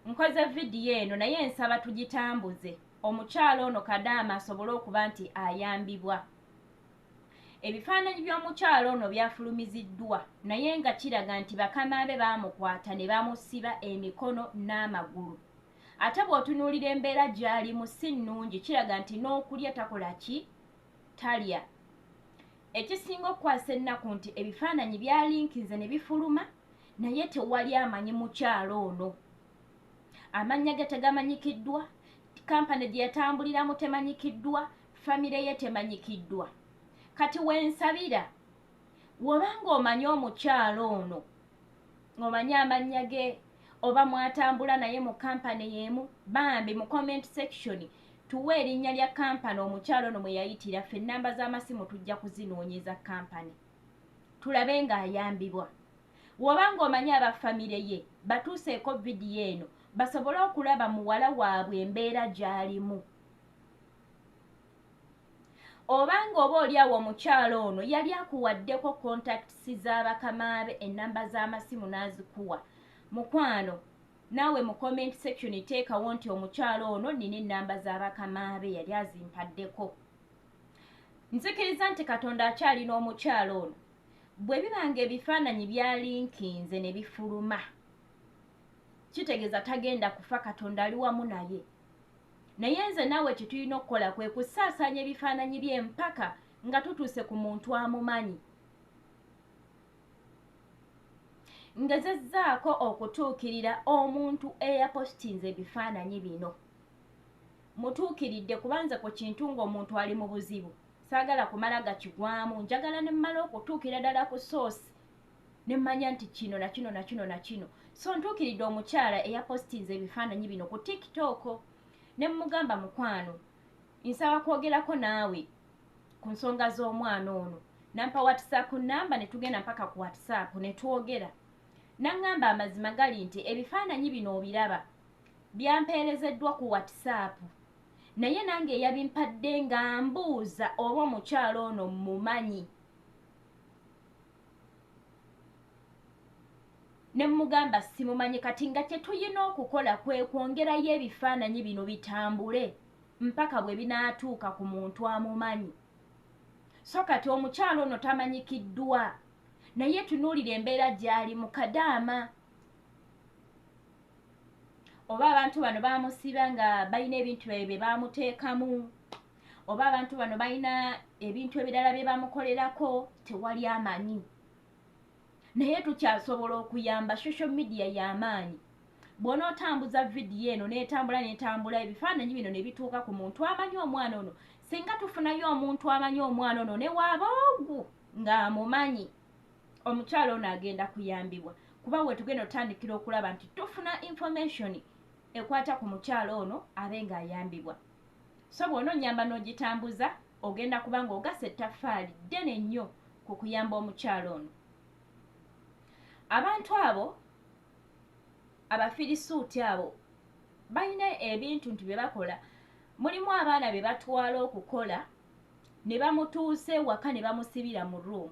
Nkoze vidiyo eno naye nsaba tugitambuze omukyala ono kadaama asobole okuba nti ayambibwa ebifaananyi by'omukyala ono byafulumiziddwa naye nga kiraga nti bakama be baamukwata ne bamusiba emikono n'amagulu ate bw'otunuulira embeera gy'alimu si nnungi kiraga nti n'okulya takola ki talya ekisinga okukwasa ennaku nti ebifaananyi byalinkinze ne bifuluma naye tewali amanyi mukyalo ono amannya ge tegamanyikiddwa kampani gye yatambuliramu temanyikiddwa famire ye temanyikiddwa kati wensabira woba ng'omanyi omukyalo ono ng'omanyi amannya ge oba mwatambula naye mu kampani y'emu bambi mu comment section tuwa erinnya lya kampani omukyalo ono mwe yayitira ffe ennamba z'amasimu tujja kuzinoonyeza kampani tulabe nga ayambibwa woba nga omanyi aba famire ye batuuseeko vidiyo eno basobole okulaba muwala waabwe embeera gyalimu obanga oba oli awo omukyalo ono yali akuwaddeko contacts z'abakamaabe ennamba z'amasimu n'azikuwa mukwano naawe mu comment section teekawo nti omukyalo ono nina ennamba z'abakamaabe yali azimpaddeko nzikiriza nti katonda akyali n'omukyalo ono bwe biba nga ebifaananyi byalinkinze ne bifuluma kitegeeza tagenda kufa katonda ali wamu naye naye nze naawe kye tulina okukola kwe kusaasaanya ebifaananyi bye mpaka nga tutuuse ku muntu amumanyi ngezezzaako okutuukirira omuntu eyapositinze ebifaananyi bino Mutuukiridde kuba nze ku kintu ng'omuntu ali mu buzibu saagala kumala gakigwamu njagala ne mmala okutuukira ddala ku soosi ne mmanya nti kino na kino na kino na kino so ntuukiridde omukyala eyapositinze ebifaananyi bino ku tiktok ne mmugamba mukwano nsaba kwogerako naawe ku nsonga z'omwana ono nampa whatsapp namba ne tugenda mpaka ku whatsapp ne twogera naŋŋamba amazima gali nti ebifaananyi bino obiraba Byampeerezeddwa ku WhatsApp naye nange eyabimpadde ng'ambuuza oba omukyala ono mmumanyi. Ne mmugamba simumanyi kati nga kye tulina okukola kwe kwongerayo ebifaananyi bino bitambule mpaka bwe binaatuuka ku muntu amumanyi. So kati omukyala ono tamanyikiddwa naye tunuulira embeera gy'alimu kadaama. oba abantu bano bamusiba nga balina ebintu byabe bye bamuteekamu oba abantu bano balina ebintu ebirala bye bamukolerako tewali amanyi naye tukyasobola okuyamba social media y'amaanyi bwona otambuza vidiyo eno netambula netambula ebifaananyi bino nebituuka ku muntu amanyi omwana ono singa tufunayo omuntu amanyi omwana ono newaaba ogu ng'amumanyi omukyalo ono agenda kuyambibwa kuba wetugenda otandikira okulaba nti tufuna information ekwata ku mukyalo ono abe nga ayambibwa so bwona onyamba n'ogitambuza ogenda kuba nga ogasa ettaffaali ddene nnyo ku kuyamba omukyalo ono abantu abo abafirisuuti abo balina ebintu nti bye bakola mulimu abaana be batwala okukola ne bamutuusa ewaka ne bamusibira mu room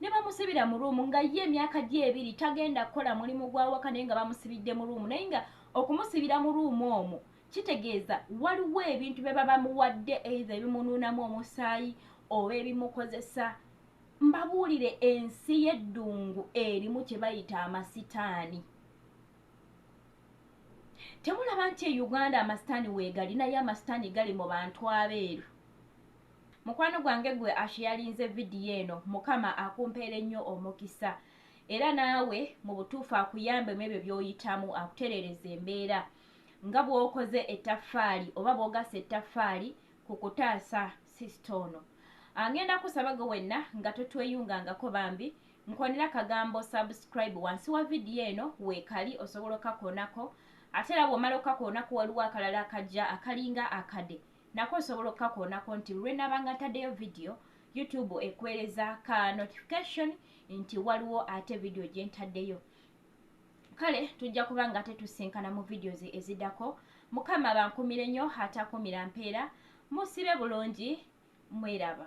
ne bamusibira mu room nga ye emyaka gye ebiri tagenda kukola mulimu gw'awaka naye nga bamusibidde mu room naye nga okumusibira mu room omwo kitegeeza waliwo ebintu bye baba muwadde eitha ebimunuunamu omusaayi oba ebimukozesa mbabuulire ensi y'eddungu erimu kye bayita amasitaani temulaba nti e uganda amasitaani weegali naye amasitaani gali mu bantu abeeru mukwano gwange gwe asheyalinze vidiyo eno mukama akumpeere nnyo omukisa era naawe mu butuufu akuyambe mu ebyo by'oyitamu akutereereza embeera nga bw'okoze ettaffaali oba bw'ogasa ettaffaali ku kutaasa sisita ono angenda kusaba gwe wenna nga totweyungangako bambi nkonera kagambo subscribe wansi wa vidiyo eno weekali osobola okakoonako ate era bw'omala okakoonako waliwo akalala akajja akalinga akade nako osobola okukakoonako nti lwe nabanga ntaddeyo vidiyo youtube ekuweereza ka notification nti waliwo ate vidiyo gye ntaddeyo kale tujja kuba nga ate tusinkana mu vidiyo ze eziddako mukama bankumire nnyo atakumira mpeera musibe bulungi mweraba